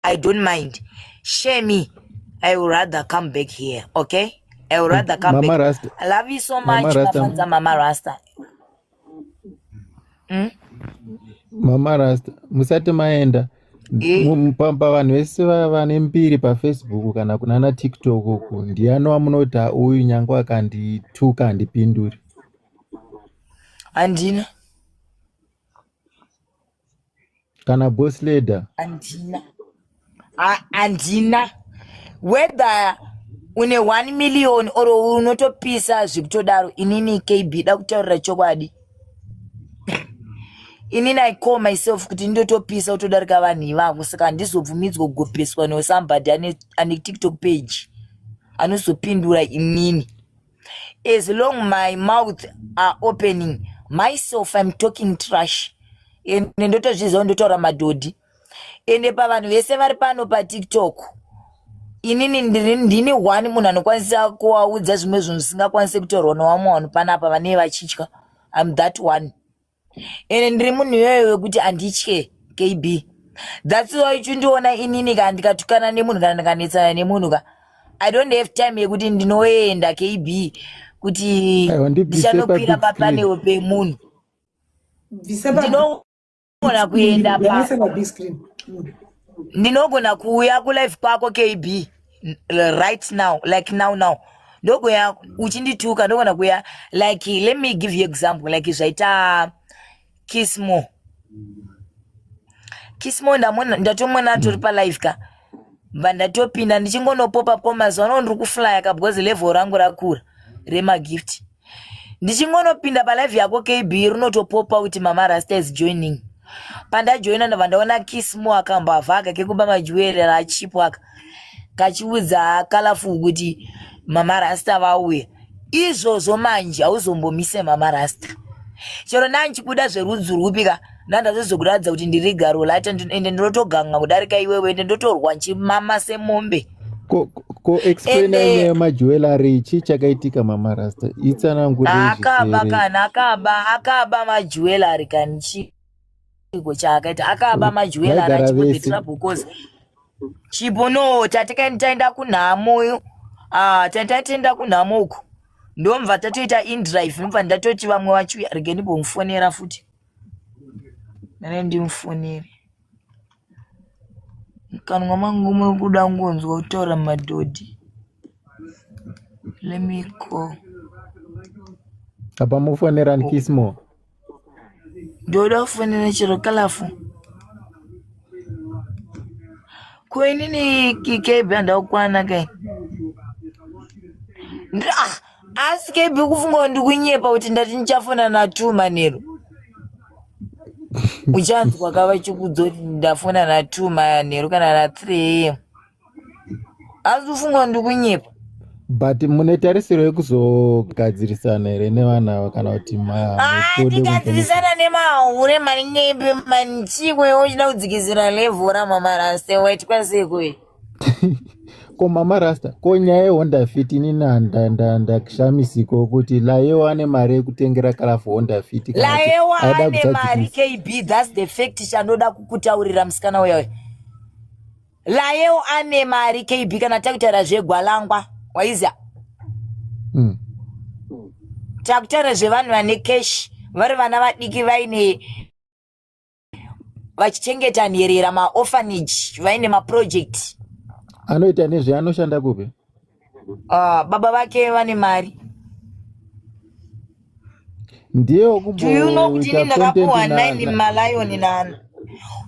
i don't mind share me i will rather come back here okay i will rather come mama back rasta i love you so much mafanza mama rasta mm? mama rasta musati maenda eh? pamba vanhu vese vane mbiri pafacebook kana kunana tiktok uku ndiyani wamunoti uyu nyange akandituka handipinduri handina kana boss leader andina andina whether une 1 million or unotopisa zvekutodaro inini kb da kutaurira chokwadi inini i call myself kuti ndotopisa utodarika vanhu ivavo saka handizobvumidzwa kugopeswa no somebody ane, ane tiktok page anozopindura inini as long my mouth are opening myself im talking trash and ndotozviziva ndotaura madhodhi ende pavanhu vese vari pano patiktok inini ndini one munhu anokwanisa kuvaudza zvimwe zvinhu zvisingakwanise kutorwa nowamwe vanhu panapa vanee vachitya im that one ende ndiri munhu iyoyo wekuti anditye kb thats why uchindiona inini ka ndikatukana nemunhu kana ndikanetsana nemunhu ka i don't have time yekuti ndinoenda kb kuti Aiwa, ndibvise ndichanokwira pabig screen. papaneo pemunhu Bvisa pa- ndinogona kuenda pa bvisa pa big screen. Mm. ndinogona kuuya kulife kwako kb right now like now now ndokuya uchindituka ndogona kuya like let me give you example like zvaita kismo kismo ndatomona tori mm. palive ka bva ndatopinda ndichingonopopa ko mazuva ano ndiri kuflya ka because level rangu rakura remagift ndichingonopinda palive yako kb rinotopopa kuti mama rasta is joining pandajoina ndobva ndaona kismo akambavha aka kekuba majuwere rachipo aka kachiudza kalafu kuti mama rasta vauya izvozvo manje hauzombomise mama rasta chero ndandichibuda zverudzi rwupi ka ndandazozokuratidza kuti ndiri garo lata ende ndinotoganga kudarika iwewe ende ndotorwa nchimama semombe koexplainanyaya majewelary chii chakaitika mama rasta itsanangureakaba kana akaba akaba majewelary kani chii chiiko chaakaita akaba majwela ara chipo the trouble cause chipo no tatikaini taenda kunhamo uyu ah, tataitenda kunhamo uku ndomva tatoita indrive ndomva ndatoti vamwe vachiuya regeni bomfonera futi nane ndimufonere mukanwa mangu muri kuda kungonzwa kutaura madhodhi let me call apa mufonera nkismo ndoda kufonera chero kalafu ko inini kikebe handakukwana kai ah! asi kebi ukufunga kuti ndikunyepa kuti ndati ndichafona natu manheru uchanzwa ka vachikudzo kuti ndafona natu manheru kana nathree am asi ufunga kuti ndikunyepa but mune tarisiro yekuzogadzirisana here nevana ava kana kuti tigadzirisana ah, nemahure maningepi manichikwe uchida kudzikizira levhu ramamara sewe tikwasekoe ko mama rasta ko nyaya yehonda fit ini ndakshamisiko kuti layewo ane mari yekutengera kalafu honda fit layewo ane mari kb thats the fact chanoda kukutaurira musikana uya uya layewo ane mari kb kana takutaura zvegwalangwa waiza mm. takutaura zvevanhu vane cash vari vana vadiki vaine vachichengeta nherera maorphanage vaine maproject anoita nezve anoshanda kupi uh, baba vake vane mari ndiye do you know kuti ini ndakapuwa 9 malion nana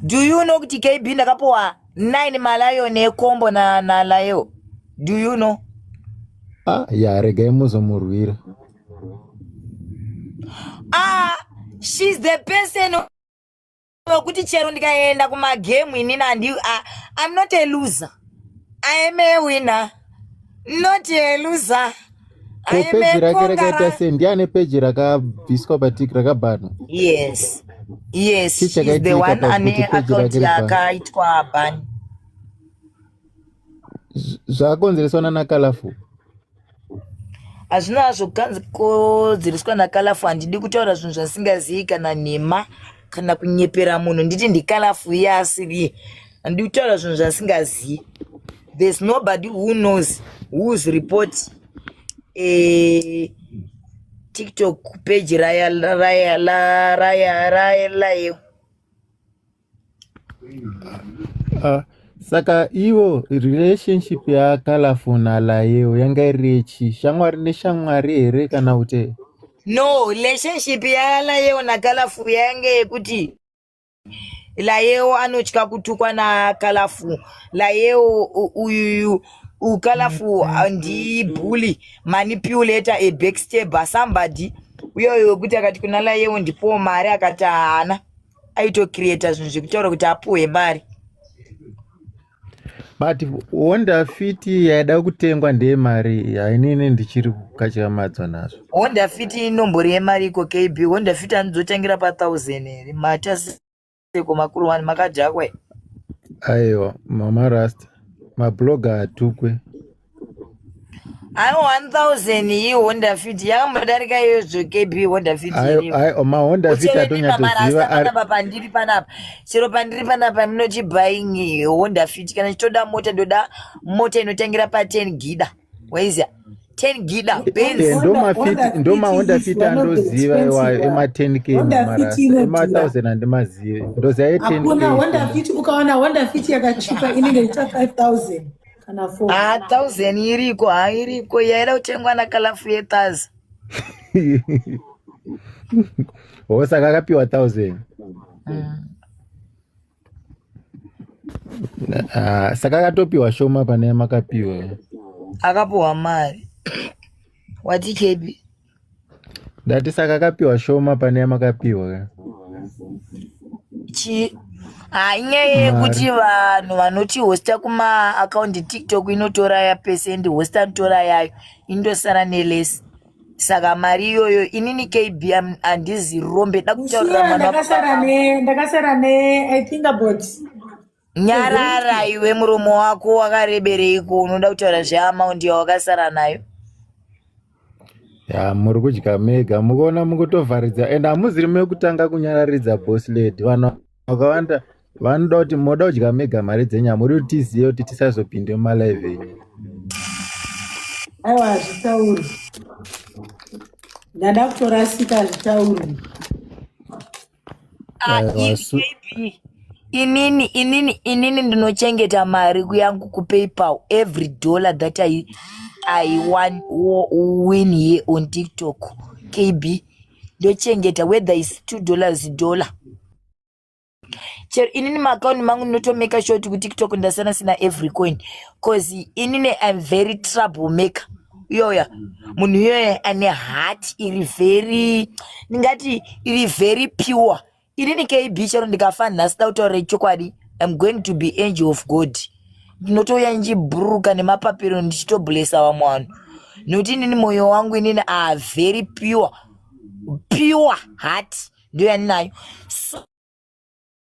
do you know kuti kb ndakapuwa 9 malion ekombo nalayo do you know ah ya regai muzomurwira ah she's the person wekuti chero ndikaenda kumagemu inini andi ah, i'm not a loser i am a winner not a loser peji rake rakaita sei ndiani peji rakabviswa patiki rakabhanwa yes yes she's the one ane account yakaitwa ban zvakonzereswa nana kalafu hazvina hazvo kukanzi kodzereswa nakalafu handidi kutaura zvinhu zvasingazivi kana nhema kana kunyepera munhu nditi ndikalafu iye asiriye handidi kutaura zvinhu zvasingazivi there's nobody who knows whos report eh, tiktok page raya raya raya raya raya Uh, saka ivo relationship ya colorful na layewo yanga iri yechi shamwari neshamwari here kana kuti no relationship ya layewo na colorful yanga yekuti layewo anotya kutukwa na colorful layewo uyuyu ucolorful ndi bully manipulator a backstabber somebody uyoyo wekuti akati kuna layewo ndipowo mari akati haana aitocreata zvinhu zvekutaura kuti apuhwe mari but honda fit yaida kutengwa ndeye mari hainini ndichiri kukatyamadzwa nazvo honda fit inombori yemari iko kb honda fit anozotangira pathousand here mataseko makuru wani makadhakwa aiwa mama rasta mabloga atukwe Ayo 1000 iyi Honda Fit yakambodarika iyoyo zvoke bi Honda Fit iripo. Ayo ayo ma Honda Fit atonyatsoziva ari panapa pandiri panapa. Chero pandiri panapa ndinoti buying eh, Honda Fit kana chitoda mota ndoda mota inotangira pa 10 gida. Waiziya 10 gida Benz. Eh, ndoma Fit ndoma Honda Fit andoziva iwayo ema 10k mara ema 1000 andimazive. Ndoziva ye 10k. Hakuna Honda Fit ukaona Honda Fit yakachipa inenge ita 5000. kana four Ah, thousand iriko ha iriko yaida kutengwa nakalafu yetazi Oh, saka akapiwa thousand Ah, saka akatopiwa shoma pane makapiwa akapuhwa mari wati kebi Ndati saka kapiwa shoma pane yamakapiwa ka. Chi ah, inyaya yekuti vanhu vanoti hosta kuma akaundi tiktok inotora ya pesendi hosta anotora yayo indosara nelesi saka mari iyoyo inini kb am- handizi rombe da kutaurira Mushina mwana ndakasara ne ndakasara ne I think about nyarara iwe muromo wako wakarebereiko unoda kutaura zveamaundi yawakasara nayo ya muri kudya mega mukuona mukutovharidza and hamuziri mekutanga kunyararidza boss lady vanhu vakawanda vanoda kuti moda kudya mega mari dzenyama muri kuti tizive kuti tisazopinde mumalive enyu aiwa hazvitauri ndada kutorasika hazvitauri Ah, i- maybe inini inini inini ndinochengeta mari yangu kupaypal every dollar that i, I won, wo- win here on tiktok kb ndochengeta whether is two dollars dollar chero inini maakaunti mangu ndinotomeka sure kuti kutiktok ndasiyana sina every coin cause inini im very trouble maker iyoya munhu iyoya ane hat iri very ndingati iri very pure inini kb chero ndikafa nhasi da kutaura chokwadi im going to be angel of god ndinotouya ndichibhururuka nemapapiro ndichitoblesa vamwe vanhu nokuti inini mwoyo wangu inini a very pure pure hat ndiyo yandinayo so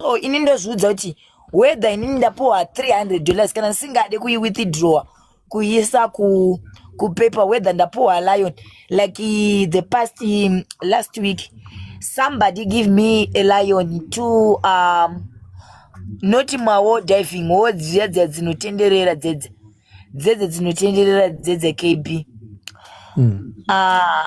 so ini ndozviudza kuti whether inini ndapuwa 300 dollars kana ndisingade kuiwithdrawer kuisa ku kupaper whether ndapuwa lion like uh, the past um, last week somebody give me a lion to um, noti mawo diving wo dziya dziya dzinotenderera dzedze dzedze dzinotenderera dzedze kb mm. uh,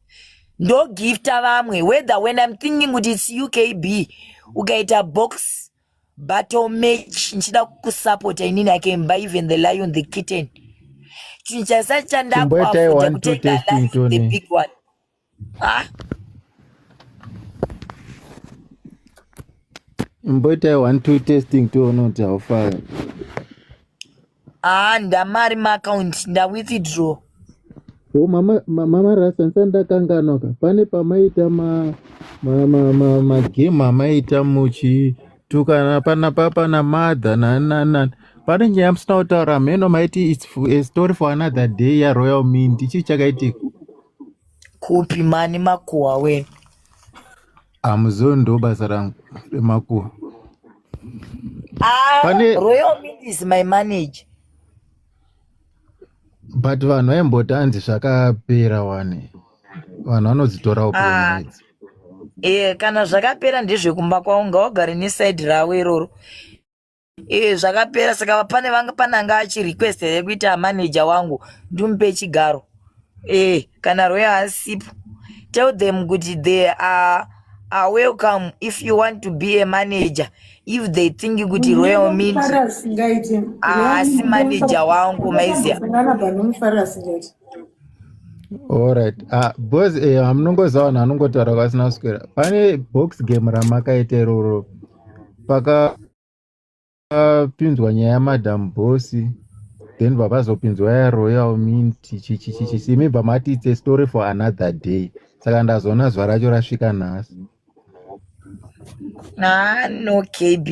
ndogifta vamwe whether when im thinking kuti its ukb ukaita box battle match ndichida kusapota inini akemba even the lion the kitten chinhu chasa chandakuafuta kutenga the big one ha imboitai one two testing toona kuti haufari Ah, ndamari maaccount ndawithdraw. Oh, mama, mama Rasta nsandakanganwa ka pane pamaita ma ma ma ma, ma game amaita muchi tukana pana papa na mother na na na pane nyaya musina kutaura hameno maiti it's a story for another day ya royal mint ichii chakaitika kupi mani makuhwa wena Amuzoni ndo basa rangu remakuwa. Ah, Pane... Royal Mint is my manager. But vanhu vaimboti hanzi zvakapera wani. Vanhu vanodzitorawo ah. puromedzi. Eh, kana zvakapera ndezvekumba kwawo ngaugare neside ravo iroro. Eh, zvakapera saka pane vanga pane anga achi request here kuita manager wangu ndimupe chigaro eh kana rwee asipo tell them kuti they are are welcome if you want to be a manager if they think kuti royal means haasi ah, manager wangu maizia Alright. Ah, boss eh, hamunongozawana anongotaura kwasina kuswera. Pane box game ramakaita iroro pakapinzwa nyaya yamadam bosi then vapazopinzwa yaroyal mint chichichichisi imi bva mati its a story for another day saka ndazoona zuva racho rasvika nhasi ah, no kb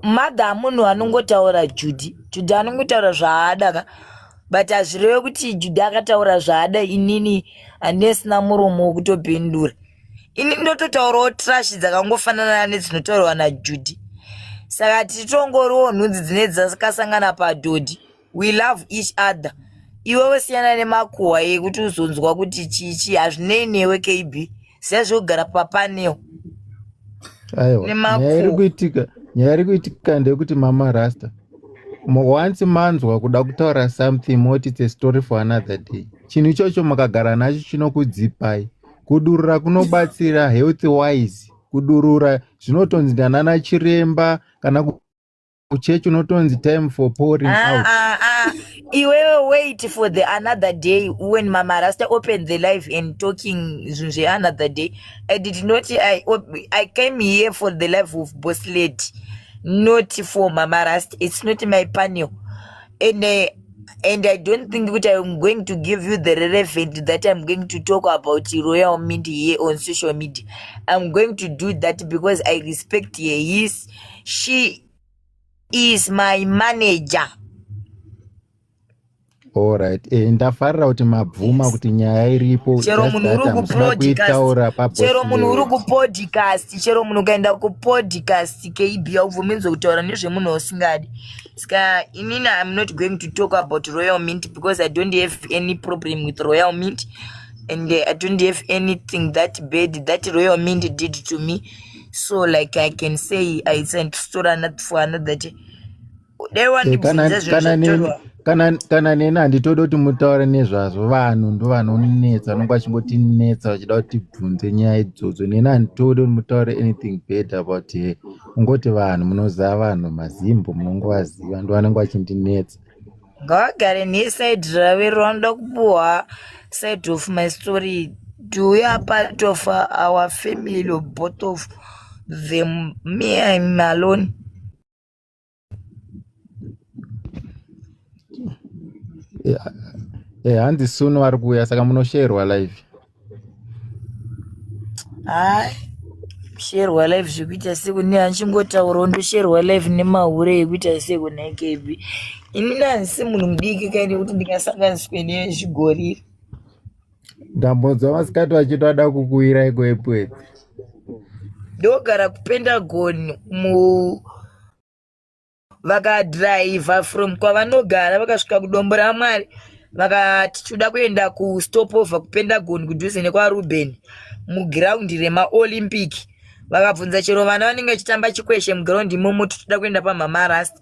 mother munhu anongotaura judi judi anongotaura zvaada ka but hazvireve kuti judi akataura zvaada inini handine sina muromo wekutopindura ini ndototaurawo trash dzakangofanana nedzinotaurwa najudy saka tichitongoriwo nhunzi dzine dzakasangana padhodhi we love each other iwewe siyana nemakuhwa yekuti uzonzwa kuti chichi hazvinei newe kb sezvo ugara papaneo nemakuhwa nyaya iri kuitika ndeyekuti mama rasta once manzwa kuda kutaura something moti its a story for another day chinhu ichocho makagara nacho chinokudzipai kudurura kunobatsira health wise kudurura zvinotonzi ndanana chiremba kana kuchechi unotonzi time for pouring ah, out ah, ah. iwewe wait for the another day when mama rasta open the life and talking zvinhu zveanother day i did not I, i came here for the life of boss lady not for mama rasta it's not my panel and uh, and i don't think kuti iam going to give you the relevant that iam going to talk about royal mint here on social media iam going to do that because i respect her his she is my manager allright e, eh, ndafarira kuti mabvuma yes. kuti nyaya iripo chero munhu uri kupodcastchero munhu uri kupodcast chero munhu ukaenda kupodcast kb aubvuminzwe kutaura nezvemunhu usingadi Ska, inini I'm not going to talk about Royal Mint because I don't have any problem with Royal Mint and uh, I don't have anything that bad that Royal Mint did to me. So like I can say I sent story another for another day. They want to kana kana neni handitodi kuti mutaure nezvazvo vanhu ndo vanonetsa vanonge vachingotinetsa vachida kuti tibvunze nyaya idzodzo neni handitodi kuti mutaure anything bad about her kungoti vanhu munoziva vanhu mazimbo munongovaziva ndo vanenge vachindinetsa ngavagare nesaidi rave ronoda kupuhwa side of my story do we are part of our family or both of them me im alone eh, hanzi suno ari kuuya saka munosherwa live hai sherwa live zvekuita seku ne hanchingotaurawo ndosherwa live nemahure yekuita seku nekb ini nansi munhu mudiki kaine kuti ndingasanganiswe nezvigoriri ndambonzwa masikati vachitoda kukuwira iko epwedzi ndogara kupentagon mu vakadhiraivha from kwavanogara vakasvika kudombo ramwari vakati tinoda kuenda kustopover kupentagon kudhuze nekwaruben mugiraundi remaolympic vakabvunza chero vana vanenge vachitamba chikweshe mugiraundi imomo titoda kuenda pamhama rasta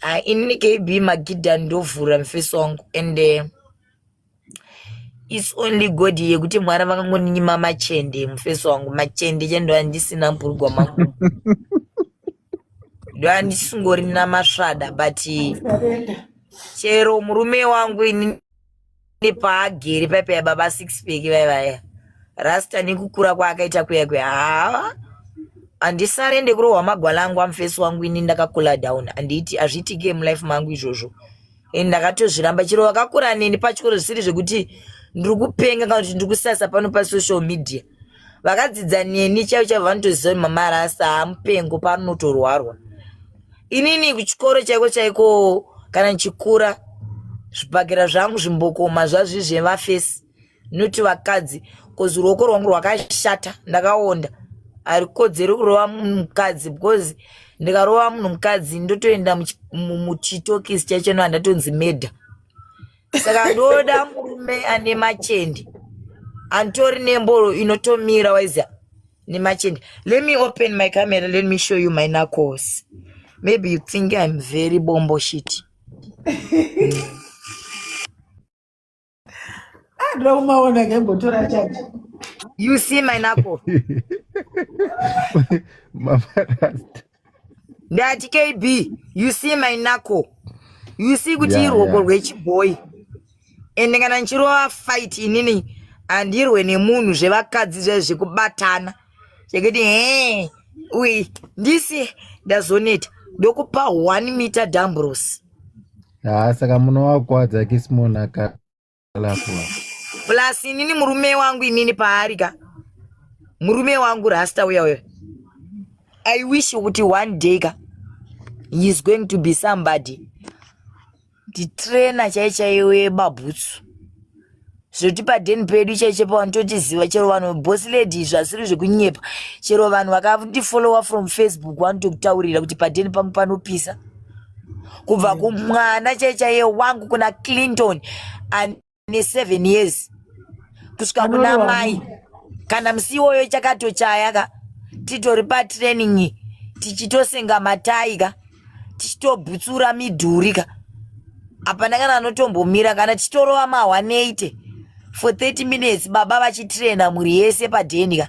Ah, inini kb magidha ndovhura mufesi wangu and uh, its only god yekuti mwari vakangoninyima machende mufesi wangu machende che ndoa ndisina mburugwa mangu ndoa ndisingorina masvada but chero murume wangu inini Ndi paagere paipa ya baba six pack vai vaya. Rasta nekukura kwaakaita kuya kuya. Haa. Andisare ndekurohwa magwala angu amfesi wangu ini ndakakula down. Anditi azvitike mu life mangu izvozvo. Ini ndakatozviramba chero vakakura neni pachikoro zvisiri zvekuti ndiri kupenga kana kuti ndiri kusasa pano pa social media. vakadzidza neni chaivo chaivo vanotoziva kuti mama rasta hamupengo panotorwarwa inini kuchikoro chaiko chaiko kana ndichikura zvibhakera zvangu zvimbokoma zvazvizve vafesi noti vakadzi bcoz ruoko rwangu rwakashata ndakaonda harikodzeri kurova munhu mukadzi because ndikarova munhu mukadzi ndotoenda muchitokisi chaicho no handatonzi medha saka ndoda murume ane machende antori nemboro inotomira waiziva nemachende let me open my camera let me show you my knuckles maybe you think i'm very bombo shit adira kumaona kembotora chachi you see my knuckle ndati kb you see my nako you see kuti yeah, irwoko yeah. rwechibhoyi ende kana ndichirova fight inini handirwe nemunhu zvevakadzi zvae zvekubatana zvekuti he uyi ndisi ndazoneta ndokupa one meter dambros haa saka munowakwadzakismonaka plus inini murume wangu inini paari ka murume wangu rasta uya uya i wish kuti one day ka he is going to be somebody nditrainer chai chaiyo yebabhutsu zvekuti padeni pedu chaicho pavanototiziva chero vanhu boss lady izvi asiri zvekunyepa chero vanhu vakandifollowa from facebook vanotokutaurira kuti padeni pangu panopisa kubva kumwana chaichaiye wangu kuna clinton ane seven years kusvika kuna mai kana musi iwoyo ichakatochaya ka titori patraining tichitosenga matai ka tichitobhutsura midhuri ka hapana kana anotombomira kana tichitorova mahwaneyte for 30 minutes baba vachitraina mhuri yese padheni ka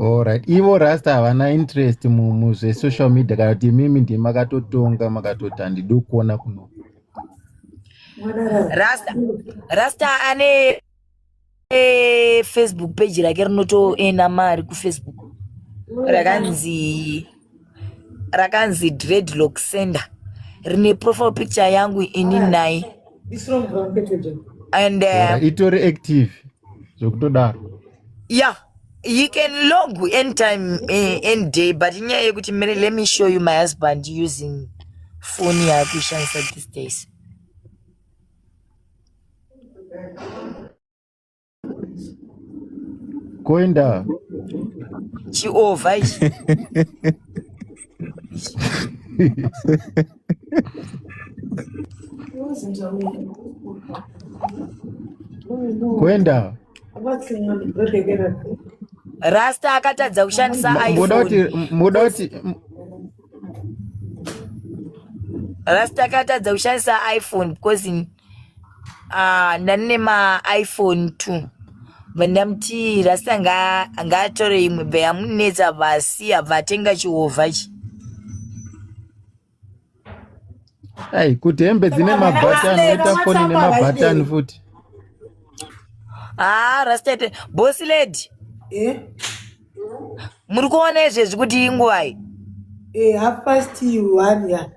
Alright. Ivo rasta havana interest muzvesocial media kana kuti imimi ndimi makatotonga makatoti handidi kuona kuno rasta rasta ane eh, facebook page rake rinotoenda mari kufacebook rakanzi rakanzi dreadlock center rine profile picture yangu ini naye and uh, itori active zvekutodaro yeah you can log anytime eh, any day but inyaya yekuti mere let me show you my husband using foni yaakuishandisa these days Koenda. Chiova ichi. Koenda. Rasta akatadza kushandisa iPhone. Moda kuti moda kuti Rasta akatadza kushandisa iPhone because ah, ndanine maiphone two vandamuti rasta ngaatore imwe be amunetsa vasi abva atenga chihovha chi ai kuti hembe dzine mabhatani oita foni nemabhatani futi haa ah, rasta bosi lady eh? muri kuona izvezvi kuti inguvai eh, half past one ya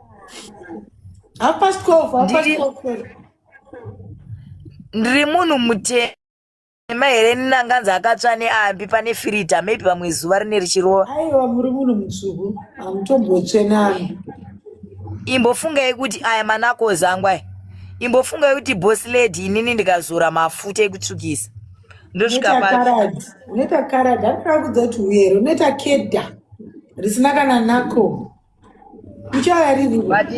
half past twelve half past twelve ndiri munhu mutema ema here ninanganzi akatsva neambi pane firita maybe pamwe zuva rine richirova aiwa muri munhu mutsvuku hamutombotsve nani imbofungai kuti aya manako zangwai imbofungai kuti boss lady inini ndikazora mafuta ekutsvukisa ndosvika Unoita papi karad, unoita karad, handina kudza kuti uyere, unoita kedha risina kana nako. Uchaya riri but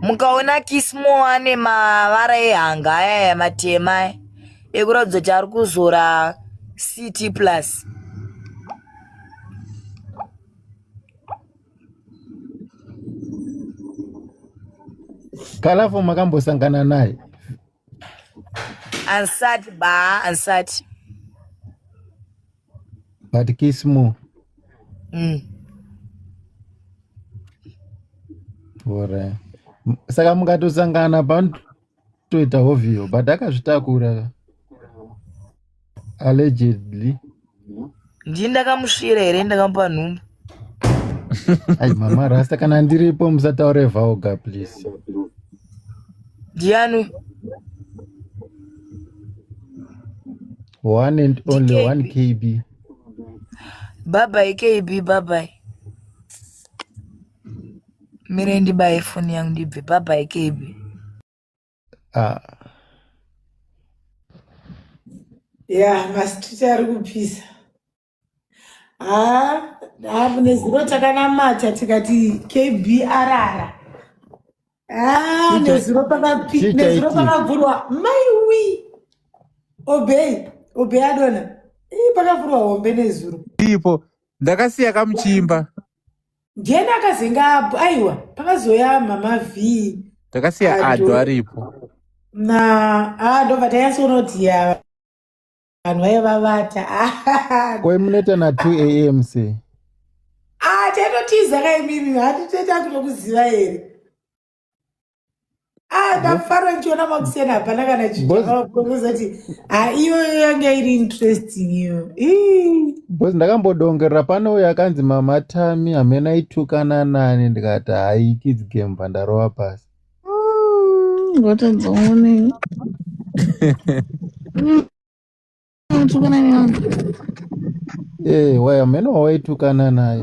mukaona kismo ane mavara ehanga aya aya matema aya, ekuratidza kuti ari kuzora ct plus Kalafo makambosangana naye. Ansati ba, ansati. But kiss more. Mm. Bora. Saka mukatosangana panotoita hovhiyo but akazvitakura. allegedly ndii ndakamusvira here ndakamupa nhumbu ai mama rasta kana ndiripo musataure vaoga please ndiani one and only DKB. one kb babai kb babai mire ndibaye foni yangu ndibve babai kb ah. ya masititi ari kupisa haa haa nezuro takanamata tikati kb arara haa Chicha- nezuro pakapi- chicha nezuro iti. pakavhurwa maiwi obey obey adona ii pakavhurwa hombe nezuro ipo ndakasiya kamuchimba ndiani akazenga apo aiwa pakazoya mama v takasiya Ado. ado aripo na ah, ndobva tanyatsoona kuti ya vanhu vaiva vavata koi munoita na 2 am se ah taitotiza kaimimi hatiteta kutokuziva here Ah, ndafara ndichiona makuseni hapana kana chiaakuzoti ha iyoyo yanga iri interesting iyo bcause ndakambodongerera pane uyo akanzi mama tami hamena itukana nani ndikati hai kids game pandarova pasi ngotenzoonei Tukana naye. Eh, waya meno waitukana naye.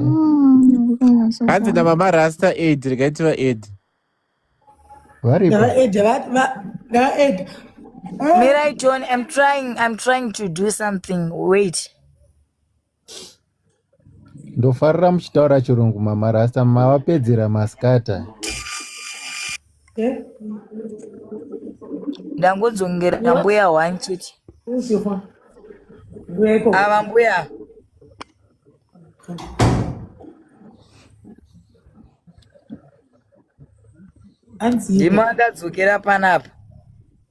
Hanzi na mama Rasta Ed rikaiti va Ed. Varipo. Ndava Ed, va- va- ndava Ed. Mirai John, I'm trying, I'm trying to do something. Wait. ndofarira muchitaura chirungu mama rasta mavapedzera maskata ndangodzongera mbuya one chete ava mbuya ndimo akadzokera panapa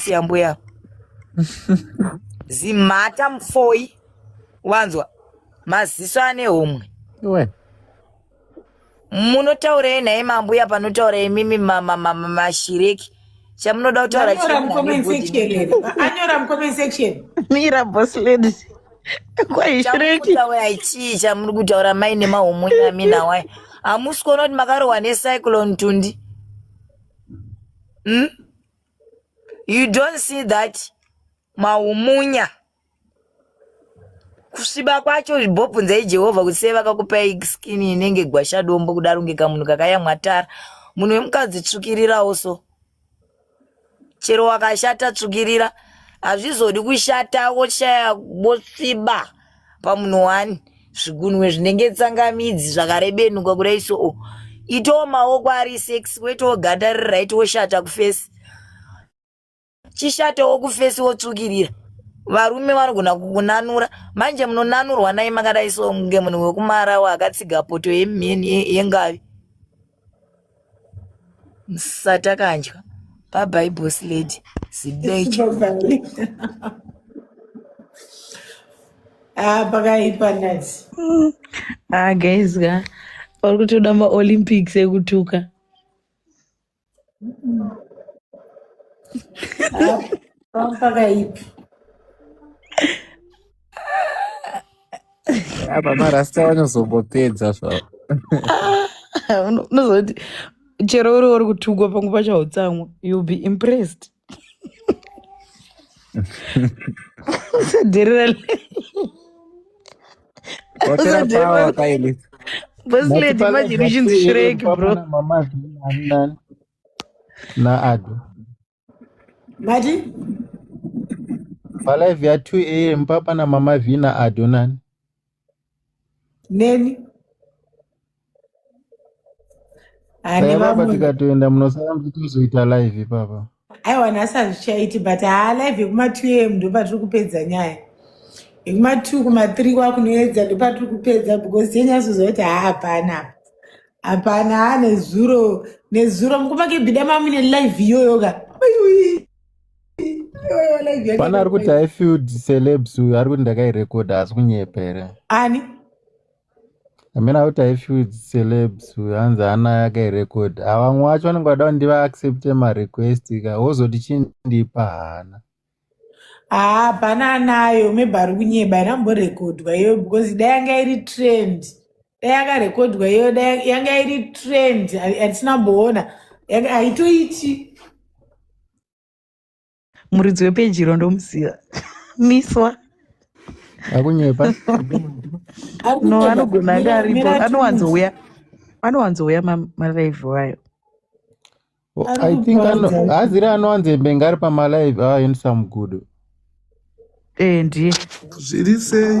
siya mbuya zimhata mfoyi wanzwa maziso ane homwe iwe munotaurei naye mambuya panotaura imimi ma- ma- ma- ma- mashireki chamunoda kutaura anyora chii mucomment nani body section here. anyora mucomment section mira boss lady kwahi shireki chamukutaura chii chamuri kutaura mai nemahomwe nami nawai hamusi kuona kuti makarohwa necyclone tundi mm? you don't see that maumunya kusviba kwacho zvibhobvunzai jehovha kuti sei vakakupai skini inenge gwashadombo kudaro ngeka munhu kakayamwatara munhu wemukadzi tsvukirirawo so chero wakashata tsvukirira hazvizodi kushata woshaya wosviba pamunhu wani zvigunwe zvinenge tsangamidzi zvakarebenuka kudai so oh. itawo maoko ari sex kwetawo ganda riri right woshata kufesi chishatawo kufesi wotsvukirira varume vanogona kukunanura manje munonanurwa nai makadai so kunge munhu wekumarawa akatsiga poto yemheni yengavi musatakanjwa bye boss lady zibeche ah pakaipa nazi ah guys ka uri kutoda maolympics ekutuka pakaipi apa marasta vanozombopedza zvavo unozoti chero uri uri kutukwa pangu pacho hautsamwa youll be impressed Did it palive ya 2 am papa namama vina adonani neni Ane baba vamwe tikatoenda munosara muchitozoita live ipapa. aiwa nhasi hazvichaiti but haa live yekuma 2 am ndopatiri kupedza nyaya yekuma 2 kuma 3 kwakunoedza ndopatiri kupedza because tinyasoziva kuti haa hapana apa hapana haa nezuro nezuro mukuma kebhida mamune live iyoyo ka Ayui, iyoyo live yake Pana ari kuti yakaita I filled celebs uyu ari kuti ndakairekodha asi kunyepa here? ani amina kuti aifeeds celebs hanzi ana yakairecord avamwe wacho vanenge vada kuti ndivaaccepte marequest ka wozoti chindipa hana haa pana anayo maybe ari kunyeba iri amborekodwa iyoyo because dai yanga iri trend dai yakarekodwa iyoyo dai yanga iri trend hatisina mboona haitoiti muridzi wepejiro ndomuziva miswa akunyepa no anogona anga aripo anowanzouya anowanzouya malive wayo oh, i think haziri anowanze mbenga ari pamalive ayo ndisamugudo ee eh, ndiye zviri sei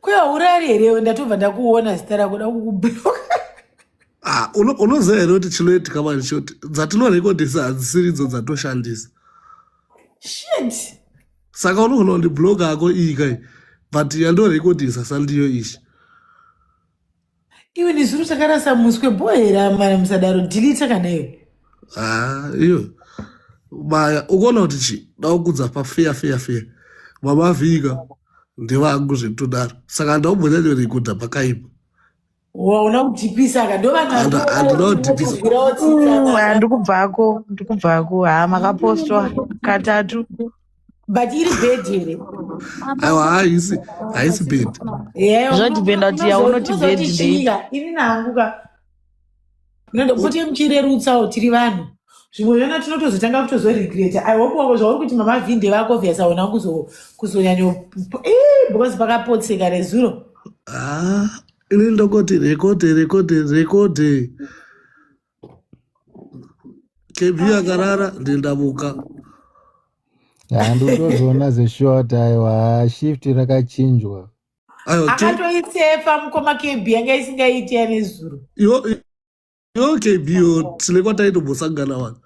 Kwe haurari here ndatobva ndakuona zita rako dakukubloka. Ah, unoziva here kuti chinoitika mani choti dzatinorekodhisa hadzisiri idzo dzatoshandisa shit saka unogona kundibloga ako iyi kai but yandorekodhisa sandiyo ishi Iwe nezuro takarasa muswe bohera mwana musadaro delete kana iwe. Ah, iyo maya ukuona kuti chi daukudza pafeya feya feya vamavhika ndevangu zvekutodaro saka ndaumhonyanyorikuda pakaipa Waona kudhipisa ka ndovana And- and not dipisa. Uya ndikubvako ndikubvako haa makapostwa katatu but iri bed here aiwa haisi haisi bed zvatipenda kuti yaunoti bed ndeika ini nangu ka noda kuti muchirerutsawo tiri vanhu zvimwe zvana tinotozotanga kutozoregreta i hope wavo zvauri kuti mama vinde vako vyasa ona kuzonyanyo eh, because pakapotseka rezuro ah, ini ndokoti rekode rekode rekode KB akarara ndendavuka. Handitozoona zeshort aiwa shift rakachinjwa. Ayo to Akatoitsefa mukoma KB yanga isingaiti yane zuro. yo yo KB yo tine kwataitombosangana wani.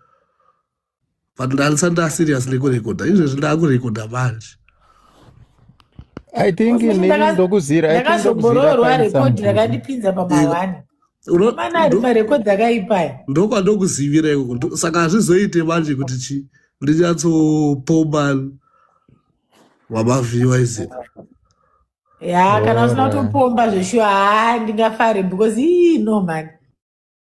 but ndalisa ndaserious nekurekodha izvezvi ndakurekodha manje i think nini ndokuzira ndakazoboroorwa rekodi rakandipinza pamahwani mana ari marekodhi akaipaya ndokwandokuzivira ikoko saka hazvizoite manje kuti chi ndinyatsopoma wamavhiwa izi ya kana usina kutopomba zveshuwa haa ndingafare because ii no mani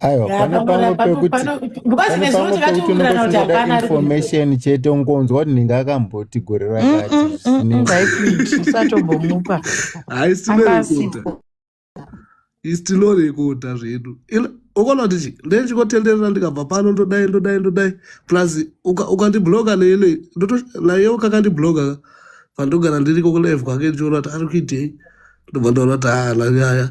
aiwa pane pamwe pekuti pane pamwe pekuti unongoda information chete ungonzwa kuti ndinge akamboti gore rakatiusatobomupa isitilorekota zvedu ukona kuti chi ndechikotenderera ndikabva pano ndodai ndodai ndodai plus ukandibloka neile naye ukakandibloka pandogara ndiriko kulive kwake ndichiona kuti ari kuitei ndobva ndaona kuti haa nanyaya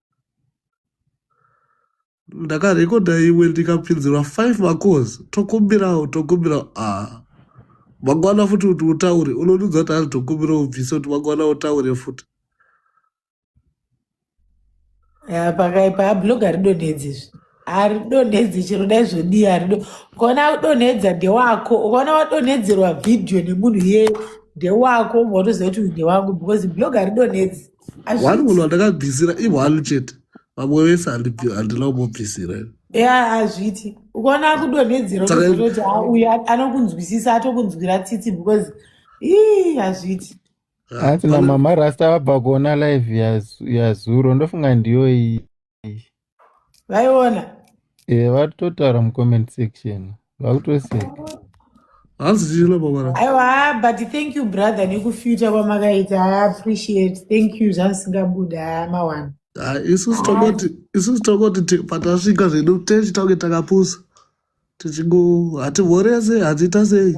ndakarekodha imwe ndikapinzirwa five macos tokumbirawo tokumbirawo a ah. mangwana futi kuti utaure unonudza kuti ari tokumbira ubvise kuti mangwana utaure futi pakaipa abloga ridonedzi izvi haridonedzi chero dai zvodii harido ukaona udonedza ndewako ukaona wadonedzerwa vhidhiyo nemunhu yeye ndewako unotoziva kuti uyu ndewangu because bloga ridonedzi one munhu hazviiti wandakabvisira i one chete vamwe vese handibvi- handina kumubvisira ini. ya hazviiti ukaona akudonhedzera saka unoziva kuti ha uyu a- anokunzwisisa atokunzwira tsitsi because ii hazviiti ah, asi pane namama rasta vabva kuona live yaz- yazuro ndofunga ndiyo iyi vaiona eh, vatotaura mucomment section vakutoseka hanzi tichina babara aiwa but thank you brother nekufita kwamakaita i appreciate thank you zvandisingabuda mawana ah, isusu tongoti isusu tongoti patasvika zvedu techi tange takapusa tichingo hativhorese hatiita sei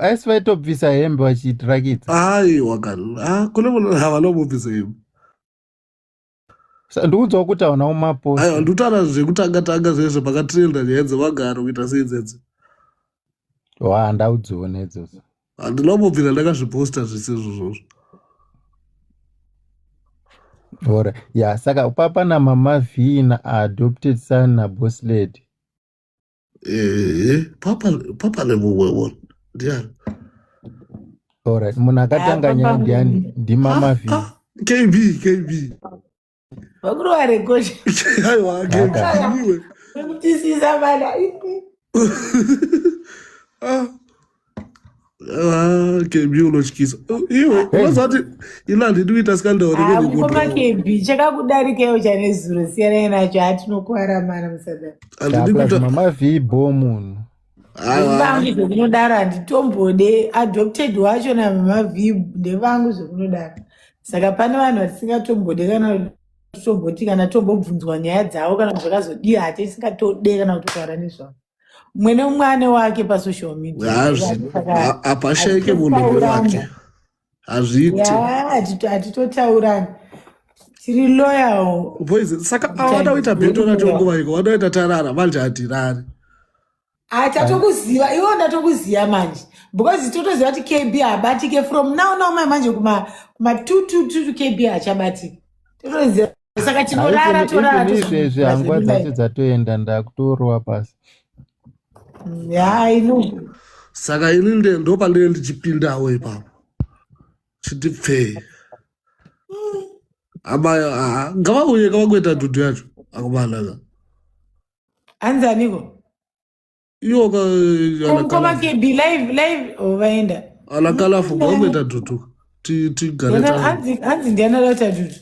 asi vaitobvisa hembe vachiitirakidza aiwa ah, kune munhu havana kubvisa hembe ndikuudzawo kuti hauna umapo aiwa ndikutaura zvekutanga tanga zvezvo pakatirenda nyaya dzevagaro kuita sei dzedzi wa ndau dzione idzodzo handina kumbobvira ndakazviposta zvisizvo zvozvo ora ya saka papa namama vhii naadopted son naboslady Eh, papa papa lemuwewo ndiani Alright, munhu akatanga nyaya ndiani? Ndimama V. Ah, kb kb vakuru varekosha aiwa kb Kaka. ndiwe vekutisiza vana Ah, Ah, KB unotyisa. Oh, iwe unozati ila handidi kuita scandal reke Ah, ndiko ndikoma KB chakakudarikewo chane zuro siyanai nacho hatinokuwara mana musadaro handidi Chapla kuita zvimama vibho munhu. aiwa vangu zvekunodaro handitombode adopted wacho namavib ndevangu zvekunodaro saka pane vanhu vatisingatombode kana tomboti kana tombobvunzwa nyaya dzavo kana kuti zvakazodii hatisingatode kana kutaura nezvavo mumwe neumwe ane wake pasocial media hapashaike munhu newake hazviiti hatitotaurani tiri loyal saka avada kuita beto racho nguva iko vada kuita tarara manje hatirari tatokuziva iwo ndatokuziva manje because totoziva kuti kb habatike from now now mai manje kuma 222 kb hachabatike totoziva saka tinorara torara izvezvi hangwa dzacho dzatoenda ndakutorowa pasi mm, yaino saka ini ndopandine ndichipindawo ipapo chiti pfee abayo ngavauye kavakuita dhudu yacho akubanaka anzaniko iyo ka mukoma kb live live ovaenda oh, alakalafu gombe tadutu tigare hanzi ndiana la tadutu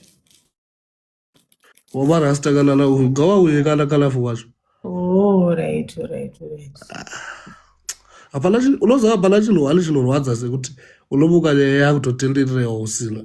wavarasta kana la gawa uye kana kalafu wacho oh right right right ah, hapana unoziva hapana chinhu wani chinorwadza sekuti unomuka nyaya yakutotenderera usina